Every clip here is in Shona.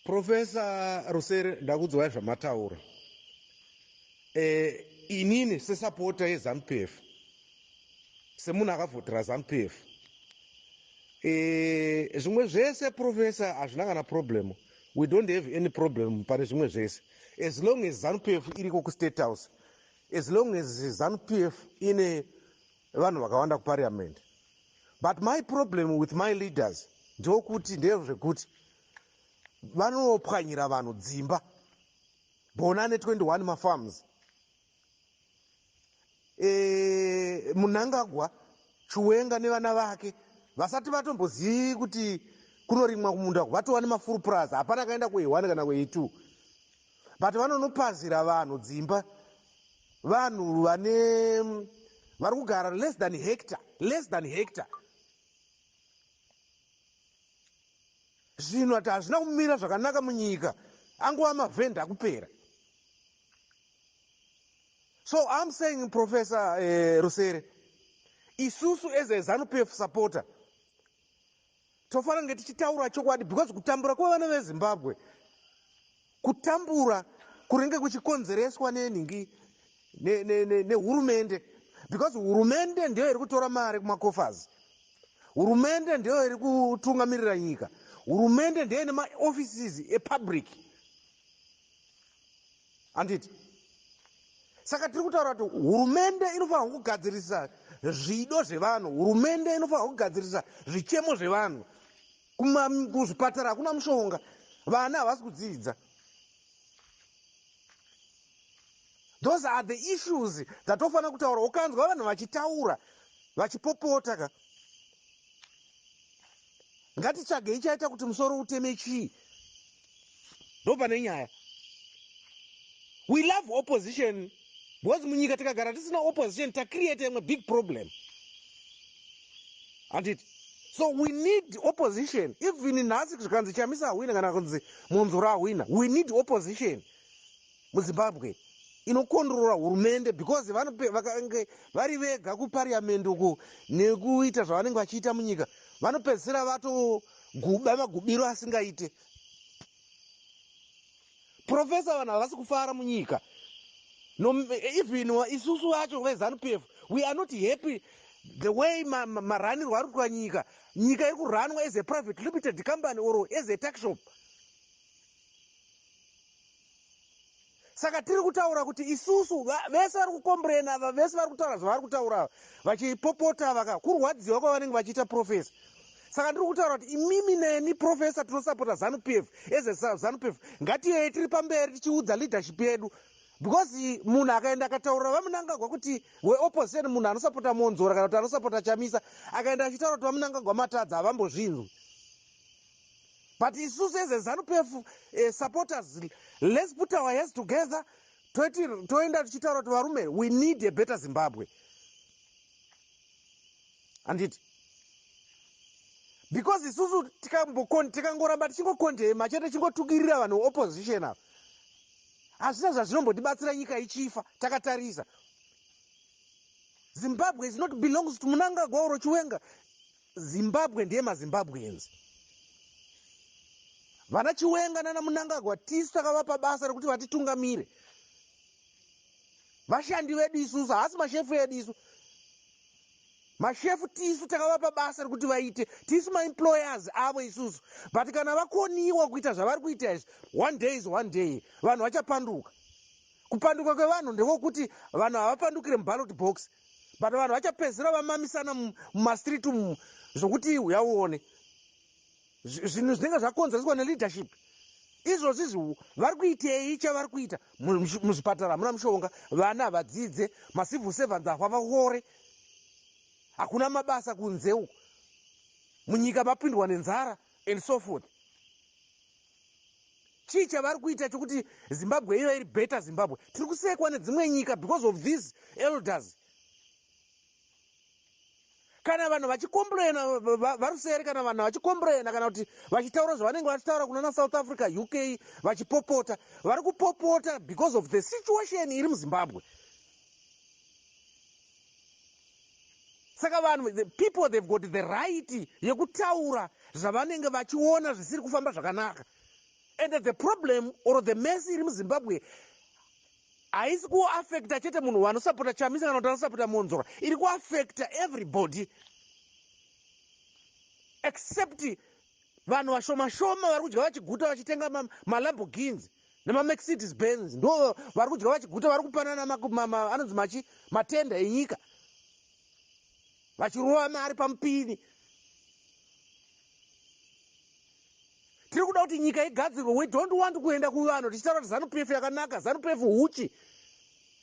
Professor Rusere ndakudzwai zvamataura. Eh inini sesapota yeZanuPF semunhu akavhotera ZanuPF eh zvimwe zvese professor hazvina kana problem. We don't have any problem pane zvimwe zvese. As long as ZanuPF iriko kuState House. As long as ZanuPF ine vanhu vakawanda kuparliament. but my problem with my leaders ndokuti ndezvekuti vanopwanyira vanhu dzimba bona ne 21 mafarms e, munangagwa chiwenga nevana vake vasati vatombozivi kuti kunorimwa kumunda vatova nemafuru purazi hapana kaenda kuehwani kana kueitwo but vanonopazira vanhu dzimba vanhu vane vari kugara less than hector less than hector zvinhu ati hazvina kumira zvakanaka munyika angova mavhenda akupera so im saying professor eh, rusere isusu as a zanupf supporter Tofana kunge tichitaura chokwadi because kutambura kwevana vezimbabwe kutambura kuringe kuchikonzereswa nenhingi nehurumende because hurumende ndiyo iri kutora mari kumakofers hurumende ndiyo iri kutungamirira nyika hurumende ndiyo ine maoffices epublic handiti saka tiri kutaura kuti hurumende inofanirwa kugadzirisa zvido zvevanhu hurumende inofanirwa kugadzirisa zvichemo zvevanhu kuzvipatara hakuna mushonga vana havasi kudzidza those are the issues dzatofanira kutaura ukanzwa vanhu vachitaura vachipopota ka Ngatitsvagei chaita kuti musoro uteme chii? Ndopane nyaya. We love opposition because munyika tikagara tisina opposition ta create imwe big problem. Handiti? So we need opposition. Even nhasi zvikanzi Chamisa ahwina kana kunzi Munzura ahwina. We need opposition. muzimbabwe inokondrora hurumende because vakange vari vega kupariamendi uku nekuita zvavanenge vachiita munyika vanopedzisira vatoguba magubiro asingaite profesa vanhu havasi kufara munyika no, even isusu vacho vezanup f we are not happy the way maranirwo ma, ma ari kuitwa nyika nyika iri kuranwa as a private limited company or as a taxshop saka tiri kutaura kuti isusu vese vari kukomburena ava vese vari kutaura zvavari kutaura ava vachipopota ava ka kurwadziwa kwavanenge vachiita profesa saka ndiri kutaura kuti imimi neni profesa tinosapota zanupf eze zanupf ngatiyei tiri pamberi tichiudza leadership yedu because munhu akaenda akataurira vamunangagwa kuti weopposition munhu anosapota monzora kana kuti anosapota chamisa akaenda achitaura kuti vamunangagwa matadza havambozvinzwi but isusu as a zanupf uh, eh, supporters let's put our hands together toiti toenda tichitaura kuti varume we need a better zimbabwe handiti because isusu tikangoramba tichingokondema chete tichingotukirira vanhu opposition ava hazvina zvazvinombotibatsira nyika ichifa takatarisa zimbabwe is not belongs to munangagwa or chiwenga Zimbabwe ndeye maZimbabweans. Vana Chiwenga nana Munangagwa tisu takavapa basa rekuti vatitungamire. Vashandi vedu isusu, haasi mashefu edu isu. Mashefu tisu takavapa basa rekuti vaite, tisu maemployers avo isusu. But kana vakoniwa kuita zvavari kuita izvi, one day is one day, vanhu vachapanduka. Kupanduka kwevanhu ndekokuti vanhu havapandukire muballot box. but vanhu vachapedzisira vamamisana mumastreet umu zvokuti huya uone zvinhu zvinenge zvakonzereswa neleadership izvozvi zvihu vari kuitei chavari kuita muzvipatara hamuna mushonga vana havadzidze macivil servants ahwa vaore hakuna mabasa kunze uku munyika mapindwa nenzara and so forth chii chavari kuita chokuti zimbabwe iva iri better zimbabwe tiri kusekwa nedzimwe nyika because of these elders kana vanhu vachikomplaina varusere kana vanhu vachikomplaina kana kuti vachitaura zvavanenge vachitaura kunana south africa uk vachipopota vari kupopota because of the situation iri muzimbabwe saka vanhu the people they've got the right yekutaura zvavanenge vachiona zvisiri kufamba zvakanaka and the problem or the mess iri muzimbabwe haisi kuaffecta chete munhu wanosapota chamisa kana kuti anosapota monzora iri kuaffecta everybody except Vanhu vashoma shoma vari kudya vachiguta vachitenga maLamborghins nemaMercedes Benz ndo vari kudya vachiguta vari kupanana anonzi machi matenda enyika vachirova mari pamupini. Tiri kuda kuti nyika igadzirwe. We don't want kuenda kuvanhu tichitaura kuti Zanu PF yakanaka, Zanu PF huchi.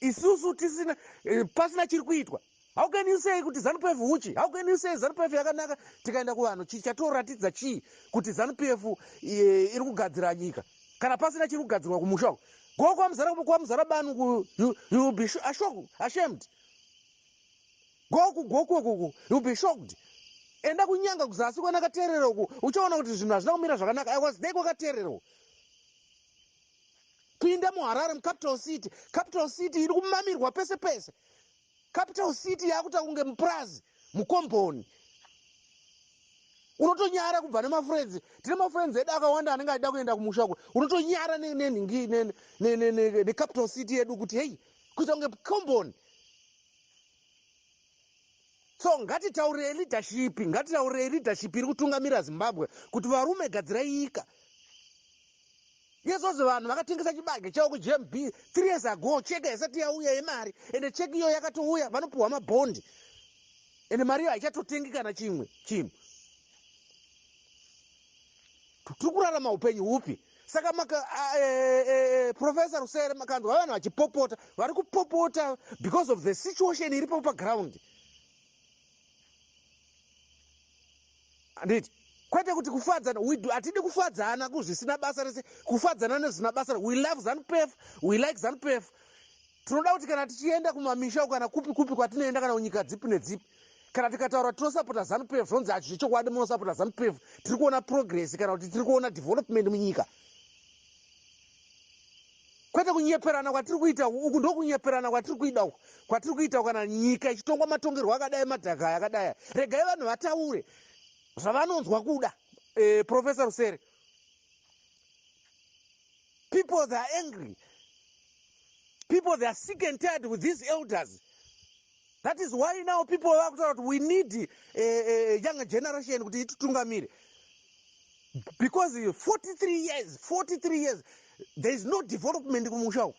Isusu tisina eh, pasina chiri kuitwa. How can you say kuti ZanuPF huchi? How can you say ZanuPF yakanaka tikaenda kuvanhu chii chatoratidza chii kuti ZanuPF eh, iri kugadzira nyika? Kana pasina chiri kugadzirwa kumusha uko. Go kwamuzara kwamuzara banu ku you, you will be sho- asho- ashamed. Go ku go ku ku you will be shocked. Enda kunyanga kuzasi kwana katerera uko uchaona kuti zvinhu hazvina kumira zvakanaka. I was there kwakaterera uko. Pinda muHarare mucapital city. Capital city iri kumamirwa pese pese. Capital city yakuta kunge mupurazi mukomboni unotonyara kubva nemafrenzi tine mafrenzi edu akawanda anenge achida kuenda kumusha kwe unotonyara nenhingi necapital city yedu kuti hei kuita kunge komboni so ngatitaurei leadership ngatitaurei leadership iri kutungamira zimbabwe kuti varume gadzirai nyika Yesos vanhu vakatengesa chibage chavo kuGMB three years ago cheki haisati yauya yemari ende cheki iyoyo yakatouya vanopiwa mabhondi ende mari iyo haichatotengi kana chimwe chinhu tiri kurarama upenyu hupi saka maka uh, e, e, e, professor rusere makanzwa vanhu vachipopota vari kupopota because of the situation iripo paground Handiti? Kwete kuti kufadzana, we do, atidi kufadzana kuzvisina basa rese, kufadzana nezvina basa, we love zanu pef, we like zanu pef. Tinoda kuti kana tichienda kumamisha kana kupi kupi kwatinoenda kana kunyika dzipi nedzipi, kana tikataura tinosapota zanu pef, zvonzi hacho zvechokwadi munosapota zanu pef, tiri kuona progress kana kuti tiri kuona development munyika. kwete kunyeperana kwatiri kuita uku ndokunyeperana kwatiri kuida uku kwatiri kuita kana nyika ichitongwa matongerwo akadai madhaka aya akadai aya regai vanhu vataure zvavanonzwa kuda eh, professor rusere people they are angry people they are sick and tired with these elders That is why now people vakutaura kuti we need a, a, a young generation kuti ititungamire because 43 years 43 years there is no development kumusha uku